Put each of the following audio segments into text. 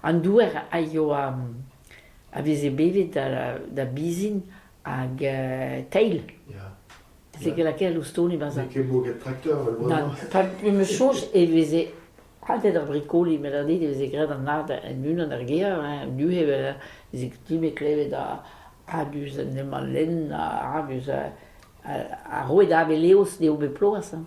An dour a ioa a veze bevet da bizin hag teil. Veze ket lakaet ouz ton e-barz ar... N'eo ket boget trakteur al loa-mañ. Pa 'm eus soñj e veze hadet ar brikoli met anit e veze graet an ard en unan er gêr, hein, du e veze kutume klevet a-du en em lenn, a-du, a roe da Aveleos d'eo bet ploaz, hein.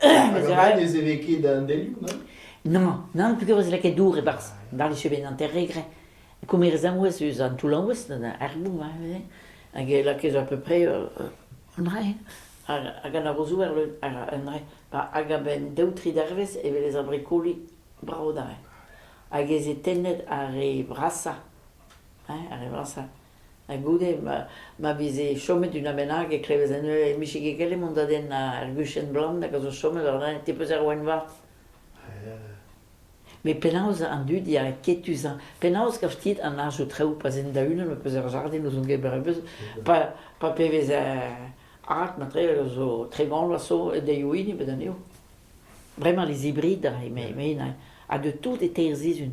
Hag avat ne zeve ket an delioù, non? Non, non, penaos e lakae dour e-barzh war e chebenn hanter-regre. Komerez arouez eus an toullaouez, ar boum, hag e lakae à peu près un rae. Hag anavozoù er leun, un rae. Hag a-benn daou, tri dervezh e welez ar brikoli brao da. Hag ez eo tennet ar re vrasañ, ar re vrasañ. Ha goude ma veze chomet una bennak e klevez anezhe e mije ket gallet mont da denn ar guchenn blann hag a zo chomet war lein ti-peuzh ar Waen-Vat. Met penaos an dud yae ketus-hañ? Penaos gavit an arz o traoù pa 'z int da-unan ma 'peus ur jardin ouzh hon gêr brebeuz pa pa pe vez art matre zo tregont a zo daeoù hini bet anezho. Bremañ les hybrides, eme Henañ, ha de tout e teir sizhun.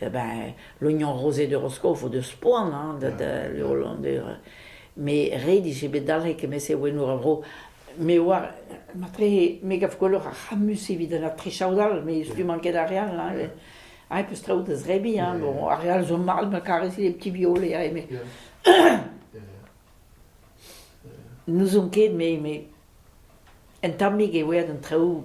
Eh ben l'oignon rosé de Roscoe vo deus poan hein da da Hollandaise met ret eo bet dalc'het kement-se ouennoù er vro me oar matre me gav gwelloc'h ar c'hammus evit an aotre chaodal met stummañ ket ar re all hein hein e peus traoù da zebriñ hein bon ar re all zo mat ma karez les petits violet hein met n'ouzon ket met met un tammig eo aet an traoù